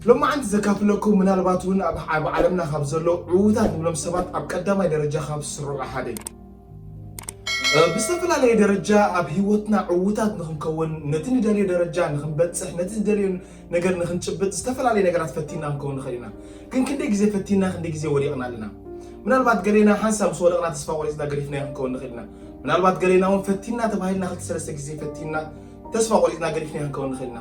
ሎማዓንቲ ዘካፍለኩም ምናልባት እውን ኣብ ኣብ ዓለምና ካብ ዘለዉ ዕውታት ንብሎም ሰባት ኣብ ቀዳማይ ደረጃ ካብ ዝስርዑ ሓደ እዩ። ብዝተፈላለየ ደረጃ ኣብ ህይወትና ዕውታት ንክንከውን ነቲ ንደልዮ ደረጃ ንክንበፅሕ ነቲ ዝደልዮ ነገር ንክንጭብጥ ዝተፈላለየ ነገራት ፈቲና ክንከውን ንኽእል ኢና። ግን ክንደይ ግዜ ፈቲና ክንደይ ግዜ ወዲቕና ኣለና። ምናልባት ገሌና ሓንሳብ ምስ ወደቕና ተስፋ ቆሪፅና ገዲፍናዮ ክንከውን ንኽእል ኢና። ምናልባት ገሌና እውን ፈቲና ተባሂልና ክልተ ሰለስተ ግዜ ፈቲና ተስፋ ቆሪፅና ገዲፍናዮ ክንከውን ንኽእል ኢና።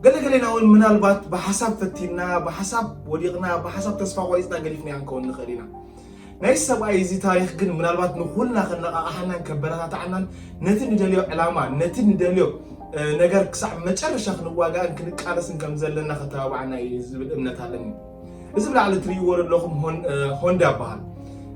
ገለገሌና እውን ምናልባት ብሓሳብ ፈቲንና ብሓሳብ ወዲቕና ብሓሳብ ተስፋ ቆሪፅና ገዲፍናዮ ክንከውን ንኽእል ኢና ናይ ሰብኣይ እዚ ታሪክ ግን ምናልባት ንኩልና ከነቃቃሓናን ከበረታታዓናን ነቲ ንደልዮ ዕላማ ነቲ ንደልዮ ነገር ክሳዕ መጨረሻ ክንዋጋእን ክንቃለስን ከም ዘለና ከተባባዓና እዩ ዝብል እምነት ኣለኒ እዚ ብላዕሊ ትርእይዎ ዘለኹም ሆንዳ ይበሃል።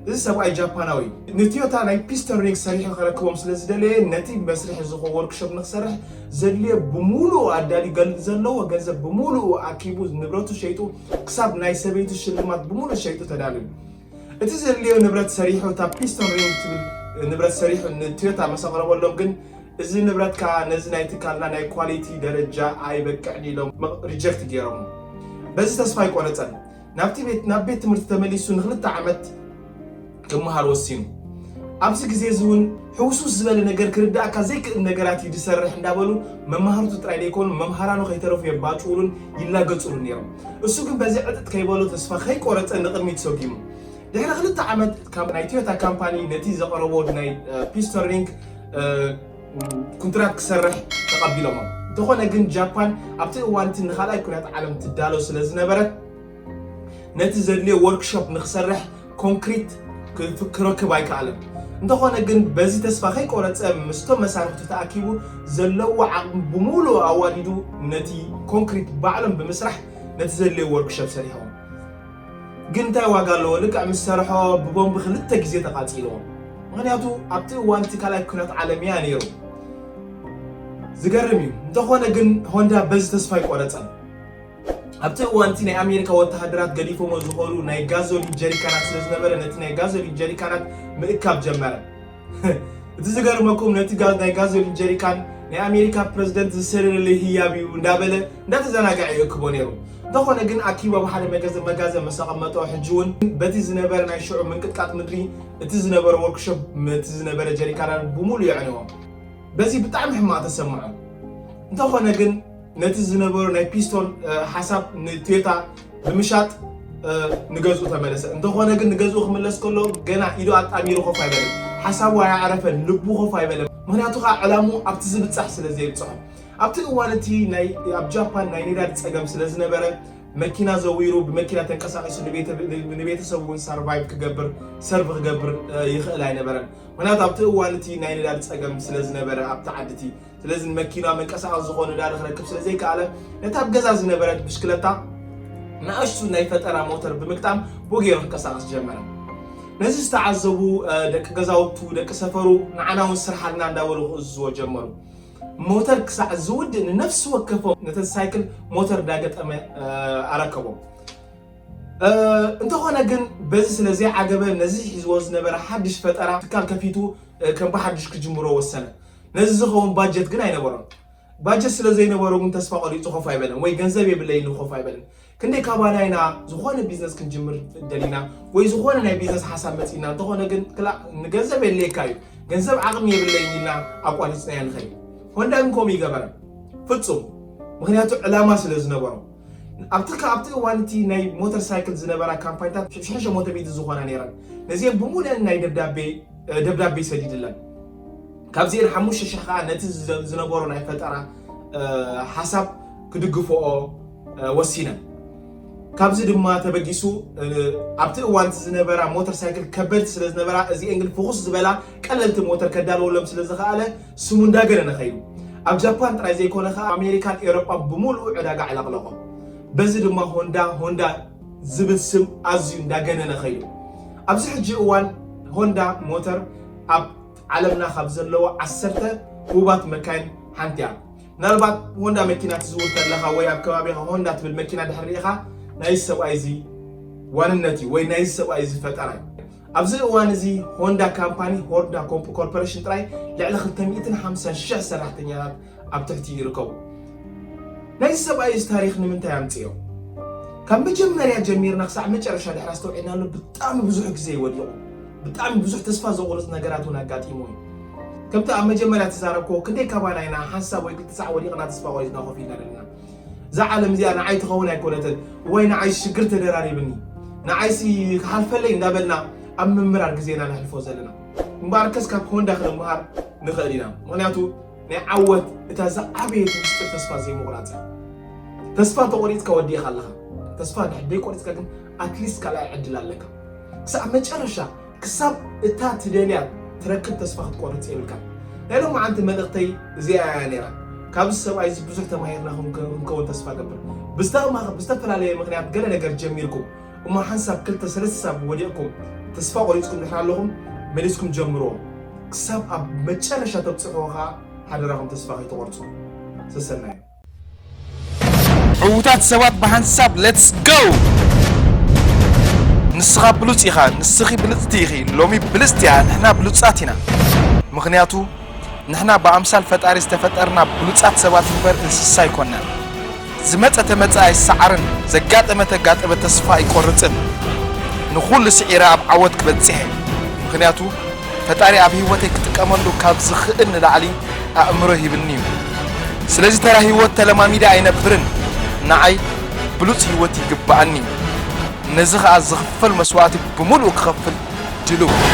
እዚ ሰብኣይ ጃፓናዊ እዩ። ንትዮታ ናይ ፒስተን ሪንግ ሰሪሑ ከረክቦም ስለ ዝደለየ ነቲ መስርሒ ዝኾ ወርክሾፕ ንክሰርሕ ዘድልዮ ብምሉኡ ኣዳልዩ ዘለዎ ገንዘብ ብምሉኡ ኣኪቡ ንብረቱ ሸይጡ ክሳብ ናይ ሰበይቱ ሽልማት ብምሉእ ሸይጡ ተዳልዩ እቲ ዘድልዮ ንብረት ሰሪሑ እታ ፒስቶን ሪንግ ትብል ንብረት ሰሪሑ ንቶዮታ ምስ ኣቕረበሎም ግን እዚ ንብረት ከኣ ነዚ ናይ ትካልና ናይ ኳሊቲ ደረጃ ኣይበቅዕን ኢሎም ሪጀክት ገይሮሞ። በዚ ተስፋ ኣይቆረጸን። ናብቲ ቤት ናብ ቤት ትምህርቲ ተመሊሱ ንክልተ ዓመት ክመሃር ወሲኑ። ኣብዚ ግዜ እዚ እውን ሕውስውስ ዝበለ ነገር ክርድኣካ ዘይክእል ነገራት እዩ ዝሰርሕ እንዳበሉ መማህርቱ ጥራይ ዘይኮኑ መምሃራኑ ከይተረፉ የባጭዉሉን ይላገጽሉን ነይሮም። እሱ ግን በዚ ዕጥጥ ከይበሎ ተስፋ ከይቆረጸ ንቕድሚት ሰጒሙ። ድሕሪ ክልተ ዓመት ናይ ቶዮታ ካምፓኒ ነቲ ዘቐረቦ ናይ ፒስተን ሪንግ ኩንትራት ክሰርሕ ተቐቢሎሞ። እንተኾነ ግን ጃፓን ኣብቲ እዋን እቲ ንኻልኣይ ኩናት ዓለም ትዳሎ ስለዝነበረት፣ ነቲ ዘድልዮ ዎርክሾፕ ንኽሰርሕ ኮንክሪት ክረክብ ኣይከኣለን። እንተኾነ ግን በዚ ተስፋ ከይቆረጸ ምስቶም መሳርሕቱ ተኣኪቡ ዘለዎ ዓቕሚ ብምሉኡ ኣዋዲዱ ነቲ ኮንክሪት ባዕሎም ብምስራሕ ነቲ ዘድልዮ ዎርክሾፕ ሰሪሖም። ግን እንታይ ዋጋ ኣለዎ ልክዕ ምስ ሰርሖ ብቦምቢ ክልተ ግዜ ተቓጺልዎ። ምኽንያቱ ኣብቲ እዋን እቲ ካልኣይ ኲናት ዓለም እያ ነይሩ። ዝገርም እዩ። እንተኾነ ግን ሆንዳ በዚ ተስፋ ኣይቆረጸን። ኣብቲ እዋን እቲ ናይ ኣሜሪካ ወተሃደራት ገዲፎሞ ዝኸዱ ናይ ጋዞሊን ጀሪካናት ስለ ዝነበረ ነቲ ናይ ጋዞሊን ጀሪካናት ምእካብ ጀመረ። እቲ ዝገርመኩም ነቲ ናይ ጋዞሊን ጀሪካን ናይ ኣሜሪካ ፕረዚደንት ዝሰደደለይ ህያብ እዩ እንዳበለ እንዳተዘናገዐ ይእክቦ ነይሩ። እንተኾነ ግን ኣኪቡ ኣብ ሓደ መጋዘን ምስ ኣቐመጦ ሕጂ እውን በቲ ዝነበረ ናይ ሽዑ ምንቅጥቃጥ ምድሪ እቲ ዝነበረ ወርክሾፕ እቲ ዝነበረ ጀሪካናት ብምሉእ የዕነዎ። በዚ ብጣዕሚ ሕማቕ ተሰምዖ። እንተኾነ ግን ነቲ ዝነበሮ ናይ ፒስቶን ሓሳብ ንቶዮታ ብምሻጥ ንገዝኡ ተመለሰ። እንተኾነ ግን ንገዝኡ ክምለስ ከሎ ገና ኢዱ ኣጣሚሩ ኮፍ ኣይበለን። ሓሳቡ ኣየዕረፈን፣ ልቡ ኮፍ ኣይበለን። ምኽንያቱ ከኣ ዕላምኡ ኣብቲ ዝብጻሕ ስለ ዘይብጽሖ። ኣብቲ እዋን እቲ ኣብ ጃፓን ናይ ነዳዲ ጸገም ስለ ዝነበረ መኪና ዘዊሩ ብመኪና ተንቀሳቒሱ ንቤተሰቡ እውን ሳርቫይቭ ክገብር ሰርቭ ክገብር ይኽእል ኣይነበረን። ምኽንያቱ ኣብቲ እዋን እቲ ናይ ነዳዲ ጸገም ስለ ዝነበረ ኣብቲ ዓዲ እቲ ስለዚ ንመኪና መንቀሳቐሲ ዝኾን ነዳዲ ክረክብ ስለ ዘይከኣለ ነታ ኣብ ገዛ ዝነበረት ብሽክለታ ንኣሽቱ ናይ ፈጠራ ሞተር ብምግጣም ቦጌሮ ክንቀሳቐስ ጀመረ። ነዚ ዝተዓዘቡ ደቂ ገዛውቱ ደቂ ሰፈሩ ንዓና እውን ስርሓልና እንዳበሉ ክእዝዝዎ ጀመሩ። ሞተር ክሳዕ ዝውድእ ንነፍሲ ወከፎም ነተን ሳይክል ሞተር እንዳገጠመ ኣረከቦም። እንተኾነ ግን በዚ ስለ ዘይዓገበ ነዚ ሒዝዎ ዝነበረ ሓድሽ ፈጠራ ትካል ከፊቱ ከም ብሓድሽ ክጅምሮ ወሰነ። ነዚ ዝኸውን ባጀት ግን ኣይነበሮን። ባጀት ስለ ዘይነበሮ ግን ተስፋ ቆሪጹ ኮፍ ኣይበለን ወይ ገንዘብ የብለይ ኢሉ ኮፍ ኣይበለን። ክንደይ ካባና ኢና ዝኾነ ቢዝነስ ክንጅምር ደሊና ወይ ዝኾነ ናይ ቢዝነስ ሓሳብ መጺና እንተኾነ ግን ክላእ ንገንዘብ የድልየካ እዩ ገንዘብ ዓቕሚ የብለይን ኢልና ኣቋሪጽናዮ ንኸይድ። ሆንዳ ግን ከምኡ ይገበረ ፍጹም ምክንያቱ ዕላማ ስለ ዝነበሮ ኣብቲ ካብቲ እዋን እቲ ናይ ሞተር ሳይክል ዝነበራ ካምፓኒታት ሽሕሸ ሞተ ሚእቲ ዝኾና ነይረን ነዚኦም ብሙሉአን ናይ ደብዳቤ ደብዳቤ ሰዲድለን። ካብዚኤን ሓሙሽተ ሽሕ ከኣ ነቲ ዝነበሮ ናይ ፈጠራ ሓሳብ ክድግፍኦ ወሲነን። ካብዚ ድማ ተበጊሱ ኣብቲ እዋን ዝነበራ ሞተር ሳይክል ከበድቲ ስለ ዝነበራ እዚኤን ግን ፍኹስ ዝበላ ቀለልቲ ሞተር ከዳልወሎም ስለ ዝኸኣለ ስሙ እንዳገነነ ኸይዱ። ኣብ ጃፓን ጥራይ ዘይኮነ ከኣ ኣሜሪካን ኤውሮጳን ብምሉኡ ዕዳጋ ኣዕለቕለቖ። በዚ ድማ ሆንዳ ሆንዳ ዝብል ስም ኣዝዩ እንዳገነነ ከይዱ። ኣብዚ ሕጂ እዋን ሆንዳ ሞተር ኣብ ዓለምና ካብ ዘለዋ ዓሰርተ ህቡባት መካይን ሓንቲ እያ። ምናልባት ሆንዳ መኪና ትዝውር ተለኻ ወይ ኣብ ከባቢኻ ሆንዳ ትብል መኪና ድሕሪ ርኢኻ ናይዚ ሰብኣይ እዚ ዋንነት እዩ ወይ ናይዚ ሰብኣይ እዚ ፈጠራ እዩ። ኣብዚ እዋን እዚ ሆንዳ ካምፓኒ ሆርዳ ኮርፖሬሽን ጥራይ ልዕሊ ክልተ ሚእትን ሓምሳን ሽሕ ሰራሕተኛታት ኣብ ትሕቲ ይርከቡ። ናይዚ ሰብኣይ እዚ ታሪኽ ንምንታይ ኣምጽኦ? ካብ መጀመርያ ጀሚርና ክሳዕ መጨረሻ ድሕሪ ኣስተውዒልናሉ ብጣዕሚ ብዙሕ ግዜ እዩ ወዲቑ። ብጣዕሚ ብዙሕ ተስፋ ዘቑርጽ ነገራት እውን ኣጋጢሙ እዩ። ከምቲ ኣብ መጀመርያ ዝተዛረብክዎ ክንደይ ካባና ኢና ሓንሳብ ወይ ክልተ ሳዕ ወዲቕና ተስፋ ቆሪጽና ኮፍ ኢልና ዘለና። እዛ ዓለም እዚኣ ንዓይ ትኸውን ኣይኮነትን፣ እዋይ ንዓይስ ሽግር ተደራሪብኒ፣ ንዓይሲ ክሓልፈለይ እንዳበልና ኣብ ምምራር ግዜና ነሕልፎ ዘለና። እምበኣርከስ ካብ ሆንዳ ክንመሃር ንኽእል ኢና። ምኽንያቱ ናይ ዓወት እታ ዝዓበየት ምስጢር ተስፋ ዘይምቑራፅ እያ። ተስፋ እንተቖሪፅካ ወዲእኻ ኣለኻ። ተስፋ እንድሕር ዘይቆሪፅካ ግን ኣትሊስት ካልኣይ ዕድል ኣለካ። ክሳብ መጨረሻ ክሳብ እታ ትደልያ ትረክብ ተስፋ ክትቆርፅ የብልካን። ናይ ሎማዓንቲ መልእኽተይ እዚኣ እያ ነይራ። ካብዚ ሰብኣይ እዚ ብዙሕ ተማሂርና ክንከውን ተስፋ ገብር። ብዝተፈላለየ ምክንያት ገለ ነገር ጀሚርኩም እሞ ሓንሳብ ክልተ ሰለስተ ሳብ ወዲቕኩም ተስፋ ቆሪጽኩም ድሕር ኣለኹም መሊስኩም ጀምርዎ ክሳብ ኣብ መጨረሻ ተብጽሕዎ ከኣ ሓደራኹም ተስፋ ከይትቖርጹ ሰሰናዩ። ዕውታት ሰባት ብሓንሳብ let's go! ንስኻ ብሉጽ ኢኻ ንስኺ ብልጽቲ ኢኺ ሎሚ ብልጽቲ እያ ንሕና ብሉጻት ኢና ምኽንያቱ። ንሕና ብኣምሳል ፈጣሪ ዝተፈጠርና ብሉጻት ሰባት እምበር እንስሳ ኣይኮናን። ዝመጸ ተመጸ ኣይሰዓርን ዘጋጠመ ተጋጠመ ተስፋ ኣይቆርጽን ንኹሉ ስዒረ ኣብ ዓወት ክበጽሕ እየ ምኽንያቱ ፈጣሪ ኣብ ሂወተይ ክጥቀመሉ ካብ ዝኽእል ንላዕሊ ኣእምሮ ሂብኒ እዩ ስለዚ ተራ ሂወት ተለማሚደ ኣይነብርን ንዓይ ብሉጽ ሂወት ይግበኣኒ እዩ ነዚ ኸኣ ዝኽፈል መስዋእቲ ብምሉኡ ክኸፍል ድልው እየ።